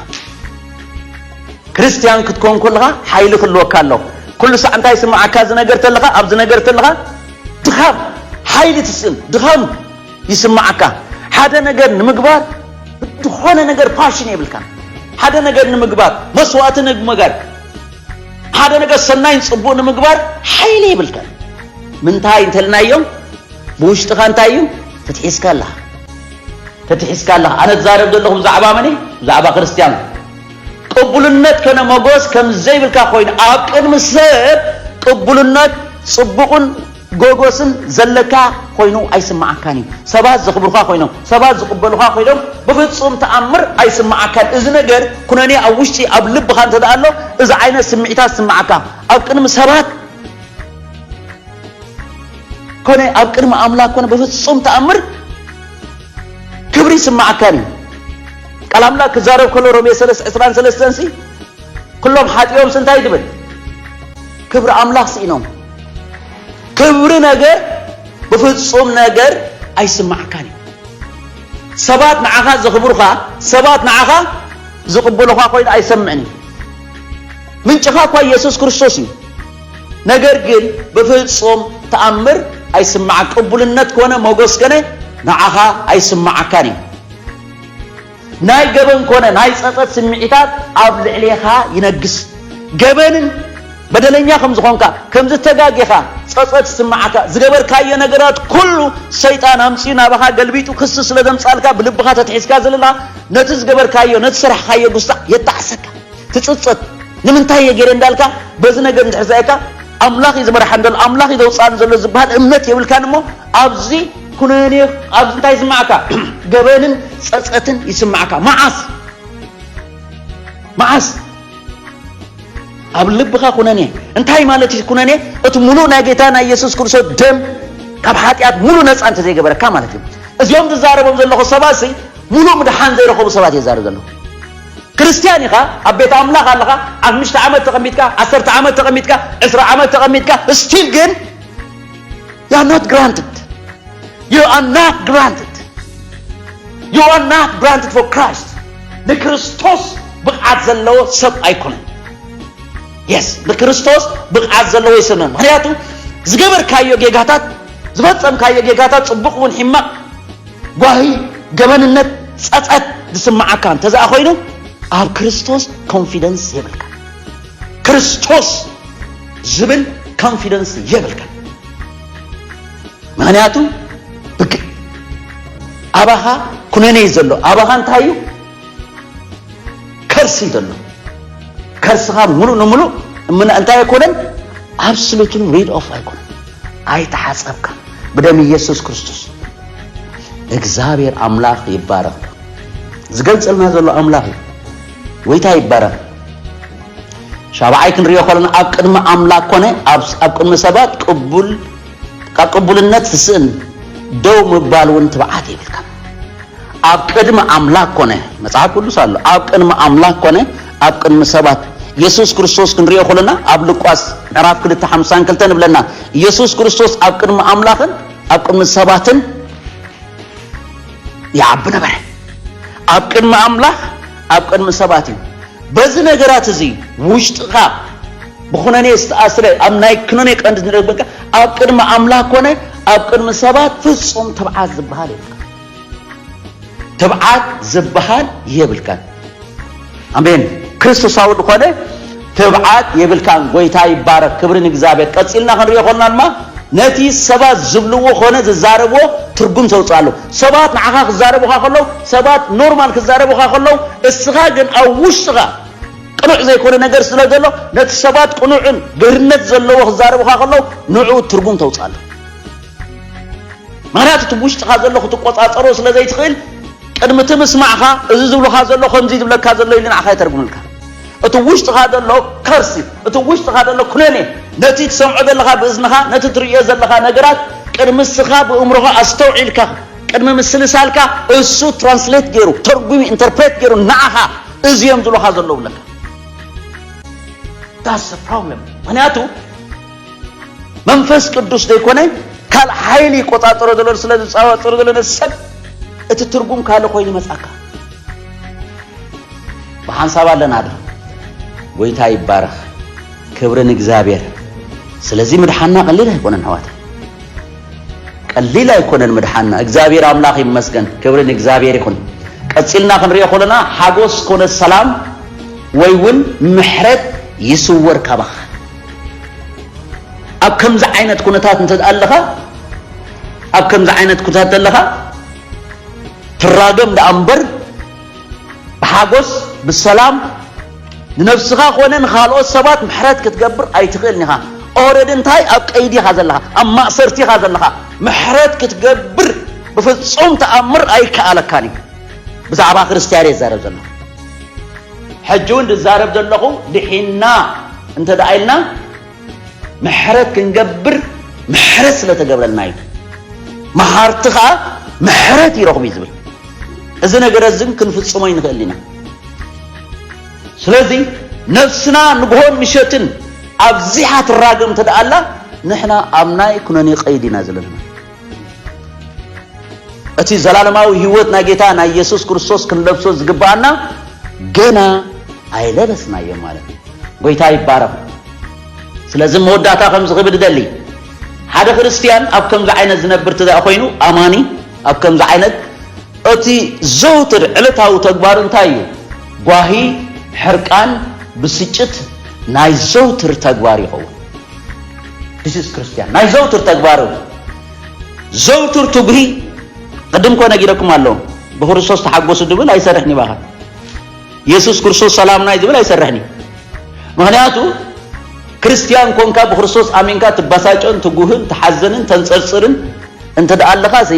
ክርስትያን ክትኮን ከለኻ ሓይሊ ክልወካ ኣሎ ኩሉ ሳዕ እንታይ ይስማዓካ ዝነገር ተለኻ ኣብዚ ነገር ተለኻ ድኻም ሓይሊ ትስእን ድኻም ይስምዓካ ሓደ ነገር ንምግባር ዝኾነ ነገር ፓሽን የብልካ ሓደ ነገር ንምግባር መስዋእቲ ንምጋር ሓደ ነገር ሰናይን ጽቡቅ ንምግባር ሓይሊ የብልካ ምንታይ እንተልናዮም ብውሽጥኻ እንታይ እዩ ፍትሒስካ ኣለኻ ፍትሒስካ ኣለኻ ኣነ ትዛረብ ዘለኹ ብዛዕባ መን ብዛዕባ ክርስትያን ቅቡልነት ከነ መጎስ ከም ዘይብልካ ኮይኑ ኣብ ቅድሚ ሰብ ቅቡልነት ጽቡቕን ጎጎስን ዘለካ ኮይኑ ኣይስምዓካን እዩ ሰባት ዘኽብሩኻ ኮይኖም ሰባት ዝቕበሉኻ ኮይኖም ብፍጹም ተኣምር ኣይስምዓካን እዚ ነገር ኩነኔ ኣብ ውሽጢ ኣብ ልብኻ እንተ ኣሎ እዚ ዓይነት ስምዒታት ዝስምዓካ ኣብ ቅድሚ ሰባት ኮነ ኣብ ቅድሚ ኣምላክ ኮነ ብፍጹም ተኣምር ክብሪ ይስምዓካን እዩ ቃል ኣምላክ ክዛረብ ከሎ ሮሜ 3 23 ሲ ኩሎም ሓጢኦም እንታይ ትብል ክብሪ ኣምላኽ ስኢኖም ክብሪ ነገር ብፍጹም ነገር ኣይስማዓካን እዩ ሰባት ንዓኻ ዘኽብሩኻ ሰባት ንዓኻ ዝቕበሉኻ ኮይኑ ኣይሰምዕን እዩ ምንጭኻ እኳ ኢየሱስ ክርስቶስ እዩ ነገር ግን ብፍጹም ተኣምር ኣይስማዓ ቅቡልነት ኮነ ሞገስ ከነ ንዓኻ ኣይስማዓካን እዩ ናይ ገበን ኮነ ናይ ጸጸት ስምዒታት ኣብ ልዕሌኻ ይነግስ። ገበንን በደለኛ ከም ዝኾንካ፣ ከም ዝተጋጌኻ ጸጸት ይስምዓካ። ዝገበርካዮ ነገራት ኩሉ ሰይጣን ኣምጺኡ ናባኻ ገልቢጡ ክሲ ስለ ዘምጻልካ ብልብኻ ተትሒዝካ ዘለኻ ነቲ ዝገበርካዮ ነቲ ዝሰራሕኻዮ ጉስጣ የጣዕሰካ። ትጽጸት። ንምንታይ እየ ጌረ እንዳልካ በዚ ነገር እንድሕር ዝረኣየካ ኣምላኽ እዩ ዝመርሓኒ ዘሎ ኣምላኽ እዩ ዘውጽኣኒ ዘሎ ዝብሃል እምነት የብልካን እሞ ኣብዚ ኩነኔ ኣብዚ እንታይ ይስማዕካ? ገበንን ጸጸትን ይስማዕካ። መዓስ መዓስ ኣብ ልብኻ ኩነኔ እንታይ ማለት እዩ? ኩነኔ እቲ ሙሉእ ናይ ጌታ ናይ ኢየሱስ ክርስቶስ ደም ካብ ሓጢኣት ሙሉእ ነጻ እንተዘይገበረካ ማለት እዩ። እዚኦም ዝዛረቦም ዘለኹ ሰባት ሲ ሙሉእ ምድሓን ዘይረኸቡ ሰባት እየ ዛረብ ዘለኹ። ክርስትያን ኢኻ፣ ኣብ ቤት ኣምላኽ ኣለኻ፣ ኣምሽተ ዓመት ተቐሚጥካ፣ ዓሰርተ ዓመት ተቐሚጥካ፣ ዕስራ ዓመት ተቐሚጥካ፣ ስቲል ግን You are not granted. You are not granted. You are not granted for Christ. ንክርስቶስ ብቕዓት ዘለዎ ሰብ ኣይኮነን። የስ ንክርስቶስ ብቕዓት ዘለዎ ይስነ ምክንያቱ ዝገበርካዮ ጌጋታት ዝፈጸምካዮ ጌጋታት ጽቡቕ እውን ሕማቕ ጓሂ ገበንነት ጸጸት ዝስምዓካ እንተዘኣ ኮይኑ ኣብ ክርስቶስ ኮንፊደንስ የብልካ ክርስቶስ ዝብል ኮንፊደንስ የብልካ ምክንያቱ ብግ ኣባኻ ኩነኔ እዩ ዘሎ ኣባኻ እንታይ እዩ ከርሲ እዩ ዘሎ ከርስኻ ሙሉእ ንሙሉእ እምነ እንታይ ኣይኮነን ኣብስሉትን ሪድ ኦፍ ኣይኮነን ኣይተሓፀብካ ብደም ኢየሱስ ክርስቶስ እግዚኣብሔር ኣምላኽ ይባረኽ ዝገልፀልና ዘሎ ኣምላኽ እዩ ጎይታ ይባረኽ ሻብዓይ ክንሪኦ ከለና ኣብ ቅድሚ ኣምላክ ኮነ ኣብ ቅድሚ ሰባት ቅቡል ካብ ቅቡልነት ትስእን ደው ምባል እውን ትብዓት የብልካ ኣብ ቅድሚ ኣምላክ ኮነ መጽሓፍ ቅዱስ ኣሎ ኣብ ቅድሚ ኣምላክ ኮነ ኣብ ቅድሚ ሰባት የሱስ ክርስቶስ ክንሪኦ ከለና ኣብ ልቋስ ምዕራፍ 252 ንብለና የሱስ ክርስቶስ ኣብ ቅድሚ ኣምላኽን ኣብ ቅድሚ ሰባትን ይዓቢ ነበረ። ኣብ ቅድሚ ኣምላኽ ኣብ ቅድሚ ሰባት እዩ። በዚ ነገራት እዚ ውሽጥኻ ብኩነኔ ዝተኣስረ ኣብ ናይ ክነኔ ቀንዲ ንረግበካ ኣብ ቅድሚ ኣምላኽ ኮነ ኣብ ቅድሚ ሰባት ፍጹም ትብዓት ዝበሃል የብልካ ትብዓት ዝበሃል የብልካን። ኣሜን ክርስቶሳዊ ዝኾነ ትብዓት የብልካን ጎይታ ይባረክ ክብሪ ንእግዚኣብሔር ቀፂልና ክንሪኦ ኮልና ድማ ነቲ ሰባት ዝብልዎ ኮነ ዝዛረብዎ ትርጉም ተውፅእ ኣሎ ሰባት ንዓኻ ክዛረቡኻ ከለዉ ሰባት ኖርማል ክዛረቡኻ ከለዉ እስኻ ግን ኣብ ውሽጥኻ ቅኑዕ ዘይኮነ ነገር ስለ ዘሎ ነቲ ሰባት ቅኑዕን ገርነት ዘለዎ ክዛረቡኻ ከለዉ ንዕኡ ትርጉም ተውፅእ ኣሎ ምክንያቱ እቲ ውሽጥኻ ዘሎ ክትቆፃፀሮ ስለ ዘይትኽእል ቅድሚ እቲ ምስማዕካ እዚ ዝብሉካ ዘሎ ከምዚ ዝብለካ ዘሎ ኢሉ ንዓካ ይተርጉምልካ እቲ ብ ውሽጥካ ዘሎ Curse እዩ እቲ ብ ውሽጥካ ዘሎ ኩነኔ ነቲ ትሰምዖ ዘለካ ብእዝንካ ነቲ ትርእዮ ዘለካ ነገራት ቅድሚ እስካ ብእምሮካ ኣስተውዒልካ ቅድሚ ምስልሳልካ እሱ Translate ጌሩ ተርጉሚ Interpret ጌሩ ንዓካ እዚ እዮም ዝብሉካ ዘለዉ ይብለካ That's the problem ምክንያቱ መንፈስ ቅዱስ ዘይኮነ ካልእ ሓይሊ ይቆጻጸሮ ዘሎ ስለ ዝጻዋጸሮ ዘሎ ነዚ ሰብ እቲ ትርጉም ካልእ ኮይኑ ይመጻካ ብሓንሳብ ኣለና ዶ ጎይታ ይባረኽ ክብሪ ንእግዚኣብሔር ስለዚ ምድሓና ቀሊል ኣይኮነን ሕዋት ቀሊል ኣይኮነን ምድሓና እግዚኣብሔር ኣምላኽ ይመስገን ክብሪ ንእግዚኣብሔር ይኹን ቀፂልና ክንሪኦ ከለና ሓጎስ ኮነ ሰላም ወይ እውን ምሕረት ይስወር ካባኻ ኣብ ከምዚ ዓይነት ኩነታት እንተ ኣለኻ ኣብ ከምዚ ዓይነት ኩነታት ኣለኻ ትራገም ደኣ እምበር ብሓጎስ ብሰላም ንነብስኻ ኮነ ንኻልኦት ሰባት ምሕረት ክትገብር ኣይትኽእልን ኢኻ ኦረድ እንታይ ኣብ ቀይዲ ኢኻ ዘለኻ ኣብ ማእሰርቲ ኢኻ ዘለኻ ምሕረት ክትገብር ብፍጹም ተኣምር ኣይከኣለካን እዩ ብዛዕባ ክርስትያን እየ ዝዛረብ ዘለኹ ሕጂ ውን ዝዛረብ ዘለኹ ድሒንና እንተ ደኣ ኢልና ምሕረት ክንገብር ምሕረት ስለ ተገብረልና እዩ። መሃርቲ ከኣ ምሕረት ይረኽቡ እዩ ዝብል። እዚ ነገረ እዚ ክንፍጽሞ ይንኽእል ኢና። ስለዚ ነፍስና ንግሆን ምሸትን ኣብዚሓ ትራገም እንተ ደኣ ኣላ ንሕና ኣብ ናይ ኩነኔ ቀይዲ ኢና ዘለና። እቲ ዘላለማዊ ህይወት ናይ ጌታ ናይ የሱስ ክርስቶስ ክንለብሶ ዝግብኣና ገና ኣይለበስናዮ ማለት እዩ። ጎይታ ይባረኽ። ስለዚ መወዳእታ ከም ዝኽብድ ደሊ ሓደ ክርስትያን ኣብ ከምዚ ዓይነት ዝነብር ትደኣ ኮይኑ ኣማኒ ኣብ ከምዚ ዓይነት እቲ ዘውትር ዕለታዊ ተግባር እንታይ እዩ? ጓሂ፣ ሕርቃን፣ ብስጭት ናይ ዘውትር ተግባር ይኸውን። ዲስስ ክርስትያን ናይ ዘውትር ተግባሩ ዘውትር ትጉሂ ቅድም እኮ ነጊረኩም ኣሎ ብክርስቶስ ተሓጎሱ ድብል ኣይሰርሕን ይባኻ የሱስ ክርስቶስ ሰላምና እዩ ዝብል ኣይሰርሕን እዩ ምክንያቱ ክርስትያን ኮንካ ብክርስቶስ ኣሚንካ ትበሳጨን ትጉህን ትሓዘንን ተንፀርፅርን እንተ ደኣ ኣለኻ ሲ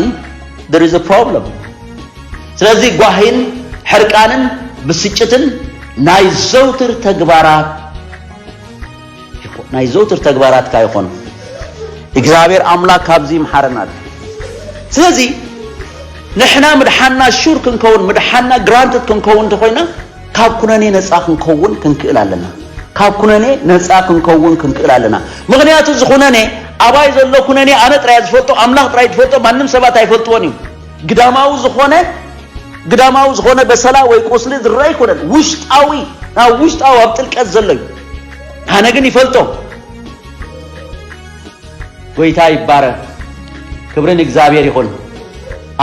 there is a problem ስለዚ ጓሂን ሕርቃንን ብስጭትን ናይ ዘውትር ተግባራት ናይ ዘውትር ተግባራትካ ይኾን። እግዚኣብሔር ኣምላክ ካብዚ ይምሓረና ድዩ። ስለዚ ንሕና ምድሓንና ሹር ክንከውን ምድሓንና ግራንትድ ክንከውን እንተኾይና ካብ ኩነኔ ነፃ ክንከውን ክንክእል ኣለና። ካብ ኩነኔ ነፃ ክንከውን ክንክእል ኣለና። ምክንያቱ እዚ ኩነኔ ኣባይ ዘሎ ኩነኔ ኣነ ጥራይ ዝፈልጦ ኣምላክ ጥራይ ዝፈልጦ ማንም ሰባት ኣይፈልጥዎን እዩ። ግዳማዊ ዝኾነ ግዳማዊ ዝኾነ በሰላ ወይ ቁስሊ ዝረኣ ኣይኮነን ውሽጣዊ ናብ ውሽጣዊ ኣብ ጥልቀት ዘሎ እዩ ኣነ ግን ይፈልጦ ጎይታ ይባረ ክብሪ ንእግዚኣብሔር ይኹን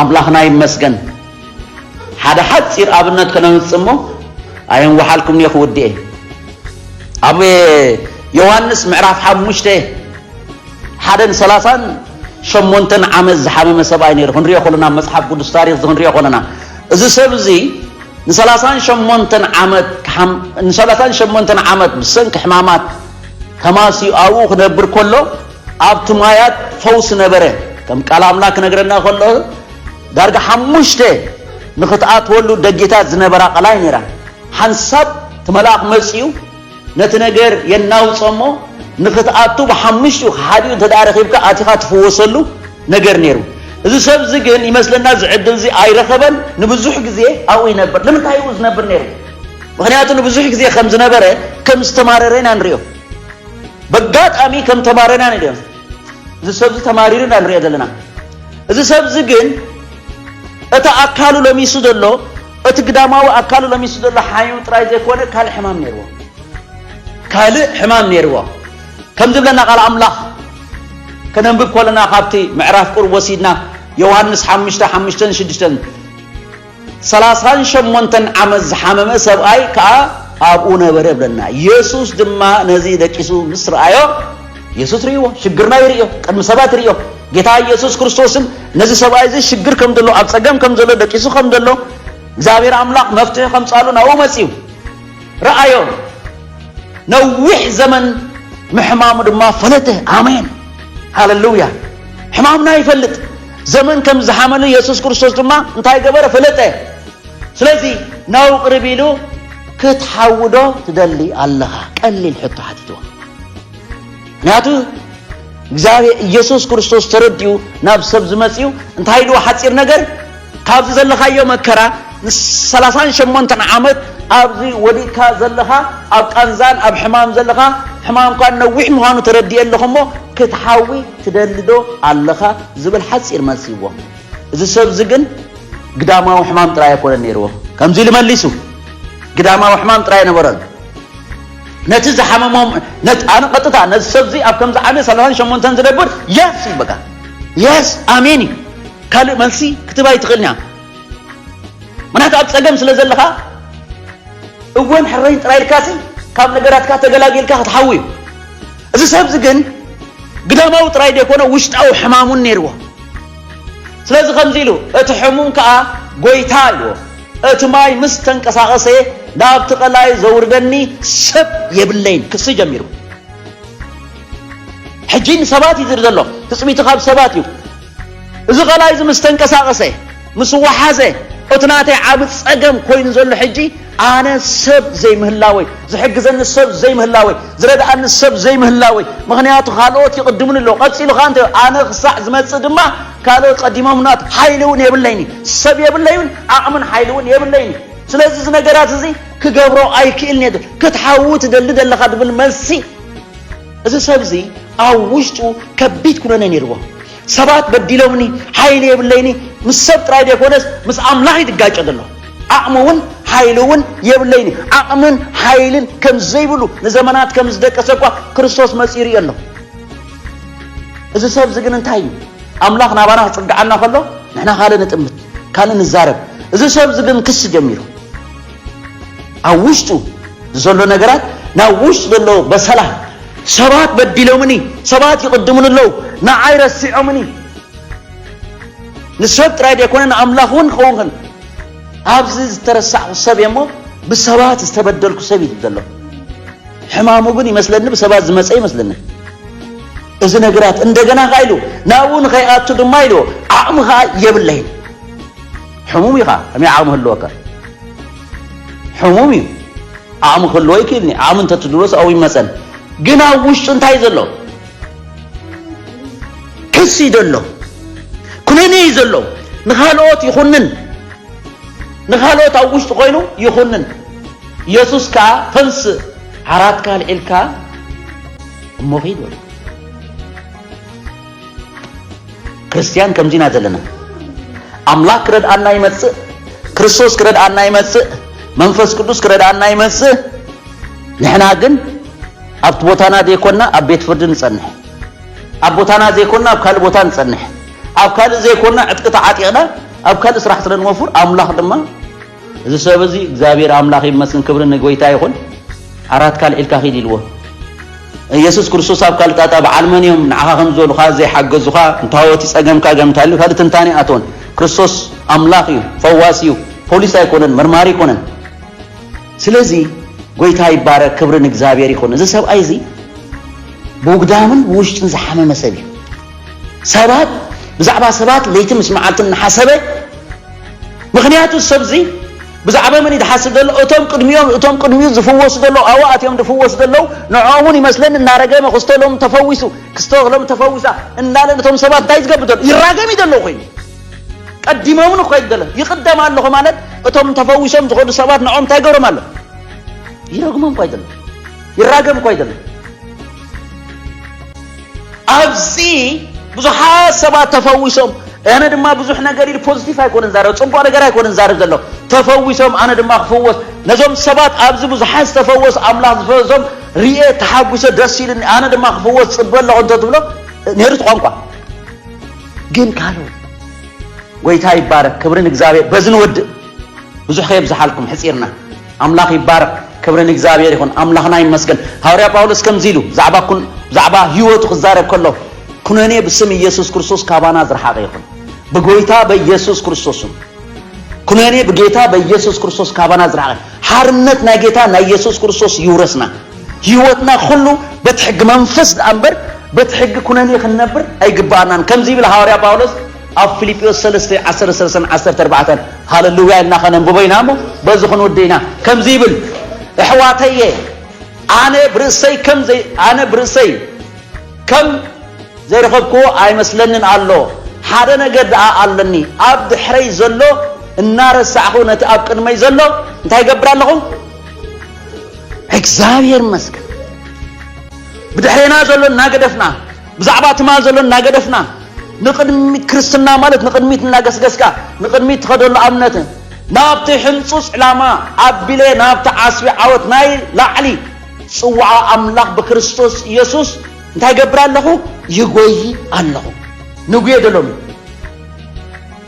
ኣምላኽና ይመስገን ሓደ ሓፂር ኣብነት ከነምፅእ እሞ ኣየንዋሓልኩም እየ ክውድኤ ኣብ ዮሃንስ ምዕራፍ ሓሙሽተ ሓደን ሰላሳን ሸሞንተን ዓመት ዝሓመመ ሰብኣይ ነይሩ ክንሪኦ ኮለና ኣብ መጽሓፍ ቅዱስ ታሪኽ ክንሪኦ ኮለና እዚ ሰብ እዚ ንሰላሳን ሸሞንተን ዓመት ንሰላሳን ሸሞንተን ዓመት ብሰንኪ ሕማማት ተማስዩ ኣብኡ ክነብር ከሎ ኣብቲ ማያት ፈውሲ ነበረ ከም ቃል ኣምላክ ክነግረና ከሎ ዳርጋ ሓሙሽተ ንክትኣትወሉ ደጌታት ዝነበራ ቐላይ ነይራ ሓንሳብ እቲ መልኣኽ መፅኡ ነቲ ነገር የናውጾ እሞ ንኽትኣቱ ብሓሙሽቲኡ ሓዲኡ እንተ ደኣ ረኺብካ ኣቲኻ ትፍወሰሉ ነገር ነይሩ። እዚ ሰብ እዚ ግን ይመስለና እዚ ዕድል እዚ ኣይረኸበን፣ ንብዙሕ ግዜ ኣብኡ ይነብር። ንምንታይ እዩ ዝነብር ነይሩ? ምኽንያቱ ንብዙሕ ግዜ ከም ዝነበረ ከም ዝተማረረ ኢና ንሪኦ። በጋጣሚ ከም ተማረረ ኢና ንሪኦ። እዚ ሰብ እዚ ተማሪሩ ኢና ንሪኦ ዘለና። እዚ ሰብ እዚ ግን እቲ ኣካሉ ለሚሱ ዘሎ እቲ ግዳማዊ ኣካሉ ለሚሱ ዘሎ ሓይኑ ጥራይ ዘይኮነ ካልእ ሕማም ነይርዎ። ካልእ ሕማም ነይርዎ። ከም ዝብለና ቃል ኣምላኽ ከነንብብ ከለና ካብቲ ምዕራፍ ቁርብ ወሲድና ዮሃንስ ሓሙሽተ ሓሙሽተን ሽዱሽተን ሰላሳን ሸሞንተን ዓመት ዝሓመመ ሰብኣይ ከኣ ኣብኡ ነበረ ይብለና። የሱስ ድማ ነዚ ደቂሱ ምስ ረኣዮ የሱስ ርእይዎ፣ ሽግርና ይርእዮ፣ ቅድሚ ሰባት ይርእዮ። ጌታ የሱስ ክርስቶስን ነዚ ሰብኣይ እዚ ሽግር ከም ዘሎ፣ ኣብ ጸገም ከም ዘሎ፣ ደቂሱ ከም ዘሎ፣ እግዚኣብሔር ኣምላኽ መፍትሒ ከምጻሉ ናብኡ መጺኡ ረኣዮ። ነዊሕ ዘመን ምሕማሙ ድማ ፈለጠ። ኣሜን ሃለሉያ። ሕማምና ይፈልጥ ዘመን ከም ዝሓመሉ የሱስ ክርስቶስ ድማ እንታይ ገበረ ፈለጠ። ስለዚ ናብኡ ቅርብ ኢሉ ክትሓውዶ ትደሊ ኣለኻ ቀሊል ሕቶ ሓቲትዎ ምክንያቱ እግዚኣብሔር ኢየሱስ ክርስቶስ ተረዲኡ ናብ ሰብ ዝመጽኡ እንታይ ድዎ ሓፂር ነገር ካብዚ ዘለኻዮ መከራ ንሰላሳን ሸሞንተን ዓመት ኣብዚ ወዲእካ ዘለኻ ኣብ ቃንዛን ኣብ ሕማም ዘለኻ ሕማምካ ነዊሕ ምዃኑ ተረዲእ ኣለኹ እሞ ክትሓዊ ትደልዶ ኣለኻ ዝብል ሓፂር መልሲ ይዎ እዚ ሰብዚ ግን ግዳማዊ ሕማም ጥራይ ኣይኮነን ነይርዎ ከምዚ ኢሉ መሊሱ ግዳማዊ ሕማም ጥራይ ነበረሉ ነቲ ዝሓመሞም ነት ኣነ ቀጥታ ነዚ ሰብዚ ኣብ ከምዚ ዓመት ሰላሳን ሸሞንተን ዝነብር የስ እዩ በቃ የስ ኣሜን እዩ ካልእ መልሲ ክትባ ይትኽእልኛ ምክንያቱ ኣብ ጸገም ስለ ዘለኻ እወን ሕረይን ጥራይ ኢልካሲ ካብ ነገራትካ ተገላጊልካ ክትሓዊ እዩ እዚ ሰብዚ ግን ግዳማዊ ጥራይ ዘይኮነ ውሽጣዊ ሕማሙን ነይርዎ ስለዚ ከምዚ ኢሉ እቲ ሕሙም ከዓ ጎይታ ኢልዎ እቲ ማይ ምስ ተንቀሳቐሰ ናብቲ ቀላይ ዘውርደኒ ሰብ የብለይን ክሲ ጀሚሩ። ሕጂ ንሰባት እዩ ዝርኢ ዘሎ፣ ትጽቢቱ ካብ ሰባት እዩ። እዚ ቀላይ እዚ ምስ ተንቀሳቐሰ ምስ ወሓዘ እቲ ናተይ ዓቢ ጸገም ኮይኑ ዘሎ ሕጂ ኣነ ሰብ ዘይምህላወይ፣ ዝሕግዘኒ ሰብ ዘይምህላወይ፣ ዝረድኣኒ ሰብ ዘይምህላወይ፣ ምኽንያቱ ካልኦት ይቕድሙኒ ኣለዉ፣ ቀጺሉ ከኣ ኣነ ክሳዕ ዝመጽእ ድማ ካልኦት ቀዲሞሙና ብ ሓይሊ ውን የብለይን እዩ ሰብ የብለዩን ዓቕምን ሓይሊ ውን የብለይን እዩ ስለዚ እዚ ነገራት እዚ ክገብሮ ኣይክእልን እየ ክትሓዊ ትደሊ ደለኻ ድብል መልሲ እዚ ሰብ እዚ ኣብ ውሽጡ ከቢድ ኩነኔ ነይርዎ ሰባት በዲሎምኒ ሓይሊ የብለይኒ ምስ ሰብ ጥራይ ዘይኮነስ ምስ ኣምላኽ እዩ ድጋጮ ዘሎ ዓቕሚ እውን ሓይሊ እውን የብለይን ዓቕምን ሓይልን ከም ዘይብሉ ንዘመናት ከም ዝደቀሰ እኳ ክርስቶስ መጺኡ ይርእዮ ኣሎ እዚ ሰብዚ ግን እንታይ እዩ ኣምላኽ ናባና ክጽግዓና ከሎ ንሕና ካልእ ንጥምት ካልእ ንዛረብ እዚ ሰብዚ ግን ክሲ ጀሚሩ ኣብ ውሽጡ ዘሎ ነገራት ናብ ውሽጡ ዘሎ በሰላ ሰባት በዲሎምኒ ሰባት ይቕድሙን ኣለዉ ንዓይ ረሲዖምኒ ንሰብ ጥራይ ደይኮነ ንኣምላኽ እውን ክኸውኽን ኣብዚ ዝተረሳዕኩ ሰብ እየ እሞ ብሰባት ዝተበደልኩ ሰብ እዩ ዘሎ ሕማሙ ግን ይመስለኒ ብሰባት ዝመጸ ይመስለኒ እዚ ነገራት እንደገና ከ ኢሉ ናብኡ ንኸይኣቱ ድማ ኢልዎ ዓቕሚ ከዓ የብለይን ሕሙም እዩ ከዓ ከመይ ዓቕሚ ህልወካ ሕሙም እዩ ዓቕሚ ክህልዎ ይክእልኒ ዓቕሚ እንተትድሮስ ኣብኡ ይመፀን ግን ኣብ ውሽጡ እንታይ ዘሎ ክሲ እዩ ዘሎ ኩነኔ እዩ ዘሎ ንካልኦት ይኹንን ንካልኦት ኣብ ውሽጡ ኮይኑ ይኹንን ኢየሱስ ከኣ ተንስእ ዓራትካ ኣልዒልካ እሞ ኺድ በሎ። ክርስትያን ከምዚ ኢና ዘለና። ኣምላኽ ክረድኣና ይመጽእ፣ ክርስቶስ ክረድኣና ይመጽእ፣ መንፈስ ቅዱስ ክረድኣና ይመጽእ። ንሕና ግን ኣብቲ ቦታና ዘይኮንና ኣብ ቤት ፍርዲ ንጸንሕ፣ ኣብ ቦታና ዘይኮንና ኣብ ካልእ ቦታ ንጸንሕ፣ ኣብ ካልእ ዘይኮንና ዕጥቂ ተዓጢቕና ኣብ ካልእ ስራሕ ስለ ንወፍር ኣምላኽ ድማ እዚ ሰብ እዚ እግዚኣብሔር ኣምላኽ ይመስገን ክብሪ ንጎይታ ይኹን ዓራት ካልዒልካ ኪድ ኢልዎ ኢየሱስ ክርስቶስ ኣብ ካልእ ጣጣ በዓል መን እዮም ንዓኻ ከም ዝበሉኻ ዘይሓገዙኻ እንታወት እዩ ጸገምካ ገም እንታልዩ ካልእ ትንታኔ ኣይኣተወን ክርስቶስ ኣምላኽ እዩ ፈዋስ እዩ ፖሊስ ኣይኮነን መርማሪ ኣይኮነን ስለዚ ጎይታ ይባረክ ክብሪ ንእግዚኣብሔር ይኹን እዚ ሰብኣይ እዚ ብውግዳምን ብውሽጥን ዝሓመመ ሰብ እዩ ሰባት ብዛዕባ ሰባት ለይቲ ምስ መዓልቲ እናሓሰበ ምኽንያቱ ሰብዚ ብዛዕባ መን እዩ ዝሓስብ ዘሎ እቶም ቅድሚኦም እቶም ቅድሚኡ ዝፍወሱ ዘለዉ ኣዋኣት እዮም ዝፍወሱ ዘለዉ ንዕኦም እውን ይመስለኒ እናረገመ ክስቶ ሎም ተፈዊሱ ክስቶ ሎም ተፈዊሳ እናለን እቶም ሰባት እንታይ ዝገብር ዘሎ ይራገም እዩ ዘሎ ኮይኑ ቀዲሞምን እኮ ይደለ ይቅደም ኣለኹ ማለት እቶም ተፈዊሶም ዝኸዱ ሰባት ንኦም እንታይ ገብሮም ኣሎ ይረግሞም እኳ ይደለ ይራገም እኳ ይደለ ኣብዚ ብዙሓት ሰባት ተፈዊሶም ኣነ ድማ ብዙሕ ነገር ኢሉ ፖዚቲቭ ኣይኮነን ዛረብ ፅቡቅ ነገር ኣይኮነን ዛረብ ዘሎ ተፈዊሶም ኣነ ድማ ክፍወስ ነዞም ሰባት ኣብዚ ብዙሓት ዝተፈወሱ ኣምላኽ ዝፈወሶም ርኤ ተሓጒሰ ደስ ኢሉኒ ኣነ ድማ ክፍወስ ፅበ ኣለኹ እንተትብሎ ነይሩ እቲ ቋንቋ ግን ካልኦት ጎይታ ይባረክ ክብሪ ንእግዚኣብሔር በዚ ንወድእ ብዙሕ ከየብዝሓልኩም ሕፂርና ኣምላኽ ይባረክ ክብሪ ንእግዚኣብሄር ይኹን ኣምላኽና ይመስገን ሃወርያ ጳውሎስ ከምዚ ኢሉ ብዛዕባ ኩን ብዛዕባ ህይወቱ ክዛረብ ከሎ ኩነኔ ብስም ኢየሱስ ክርስቶስ ካባና ዝረሓቀ ይኹን ብጎይታ በኢየሱስ ክርስቶስን ኩነኔ ብጌታ በኢየሱስ ክርስቶስ ካባና ዝረሓቀ ሓርነት ናይ ጌታ ናይ ኢየሱስ ክርስቶስ ይውረስና ህይወትና ኩሉ በቲ ሕጊ መንፈስ ደኣ እምበር በቲ ሕጊ ኩነኔ ክንነብር ኣይግባኣናን ከምዚ ይብል ሃዋርያ ጳውሎስ ኣብ ፊልጵዎስ ሰለስተ ዓሰርተ ሰለስተን ዓሰርተ ኣርባዕተን ሃለሉያ ኢልና ከነንብቦ ኢና እሞ በዚ ክንውድ ኢና ከምዚ ይብል እሕዋተየ ኣነ ብርእሰይ ከም ዘይ ኣነ ብርእሰይ ከም ዘይረኸብክዎ ኣይመስለንን ኣሎ ሓደ ነገር ደኣ ኣለኒ ኣብ ድሕረይ ዘሎ እናረሳዕኹ ነቲ ኣብ ቅድመይ ዘሎ እንታይ ይገብር ኣለኹ እግዚኣብሔር ይመስገን ብድሕሬና ዘሎ እናገደፍና ብዛዕባ ትማል ዘሎ እናገደፍና ንቕድሚት ክርስትና ማለት ንቕድሚት እናገስገስካ ንቕድሚት ትኸደሉ ኣብነት ናብቲ ሕንጹጽ ዕላማ ኣቢለ ናብቲ ዓስቢ ዓወት ናይ ላዕሊ ጽዋዓ ኣምላኽ ብክርስቶስ ኢየሱስ እንታይ ገብር ኣለኹ ይጎይ ኣለኹ ንጉየ ደሎሚ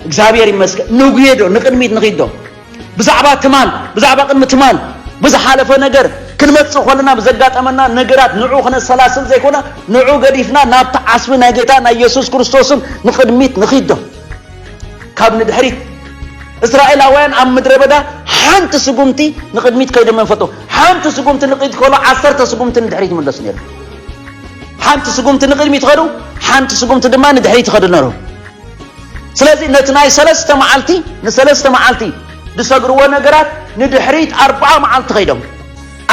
እግዚኣብሔር ይመስገን ንጉየ ዶ ንቕድሚት ንኺዶ ብዛዕባ ትማል፣ ብዛዕባ ቅድሚ ትማል፣ ብዝሓለፈ ነገር፣ ክንመጽእ ከሎና ብዘጋጠመና ነገራት ንዑ ክነሰላስል ዘይኮነ ንዑ ገዲፍና ናብቲ ዓስቢ ናይ ጌታ ናይ የሱስ ክርስቶስን ንቕድሚት ንኺድ ዶ ካብ ንድሕሪት እስራኤላውያን ኣብ ምድረ በዳ ሓንቲ ስጉምቲ ንቕድሚት ከይዶም መንፈጡ ሓንቲ ስጉምቲ ንቕድሚት ከሎ ዓሰርተ ስጉምቲ ንድሕሪት ይምለሱ ነይሩ ሓንቲ ስጉምቲ ንቕድሚት ኸዱ ሓንቲ ስጉምቲ ድማ ንድሕሪት ይኸዱ ነሩ ስለዚ ነቲ ናይ ሰለስተ መዓልቲ ንሰለስተ መዓልቲ ዝሰግርዎ ነገራት ንድሕሪት ኣርብዓ መዓልቲ ከይዶም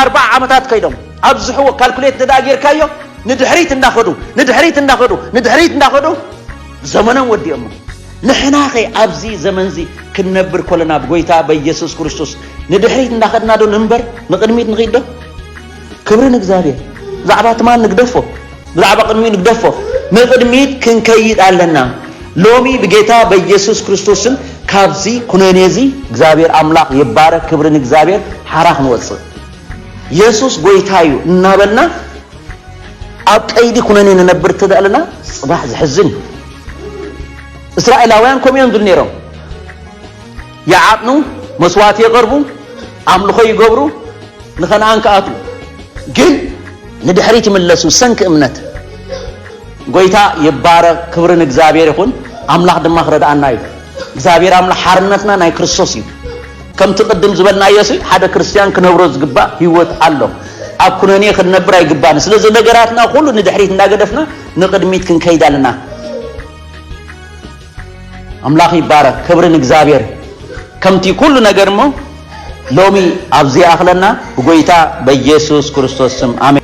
ኣርብዓ ዓመታት ከይዶም ኣብዝሕዎ ካልኩሌት እንተ ጌርካዮ ንድሕሪት እንዳኸዱ ንድሕሪት እንዳኸዱ ንድሕሪት እንዳኸዱ ዘመኖም ወዲኦሞ ንሕና ኸ ኣብዚ ዘመን እዚ ክንነብር ኮለና ብጎይታ በየሱስ ክርስቶስ ንድሕሪት እንዳኸድና ዶ ንንበር ንቕድሚት ንኺድ ዶ ክብሪ ንእግዚኣብሔር ብዛዕባ ትማል ንግደፎ ብዛዕባ ቅድሚኡ ንግደፎ ንቅድሚት ክንከይድ ኣለና ሎሚ ብጌታ በኢየሱስ ክርስቶስን ካብዚ ኩነኔ እዚ እግዚኣብሔር ኣምላኽ ይባረክ ክብሪ ንእግዚኣብሔር ሓራ ክንወፅእ የሱስ ጎይታ እዩ እናበልና ኣብ ቀይዲ ኩነኔ ንነብር እተደእለና ፅባሕ ዝሕዝን እዩ እስራኤላውያን ከምኡ እዮም ዝብሉ ነይሮም ይዓጥኑ፣ መስዋእቲ የቐርቡ፣ ኣምልኾ ይገብሩ፣ ንከነኣን ክኣትዉ ግን ንድሕሪት ይምለሱ ብሰንኪ እምነት። ጎይታ ይባረኽ ክብሪ ንእግዚኣብሔር ይኹን ኣምላኽ ድማ ክረድኣና እዩ እግዚኣብሔር ኣምላኽ ሓርነትና ናይ ክርስቶስ እዩ ከምቲ ቅድም ዝበልናዮ ሲ ሓደ ክርስትያን ክነብሮ ዝግባእ ህይወት ኣሎ ኣብ ኩነኔ ክንነብር ኣይግባን ስለዚ ነገራትና ኩሉ ንድሕሪት እንዳገደፍና ንቅድሚት ክንከይድ ኣለና ኣምላኽ ይባረክ ክብሪ ንእግዚኣብሔር ከምቲ ኩሉ ነገር እሞ ሎሚ ኣብዚ ይኣኽለና ብጎይታ በኢየሱስ ክርስቶስ ስም ኣሜን።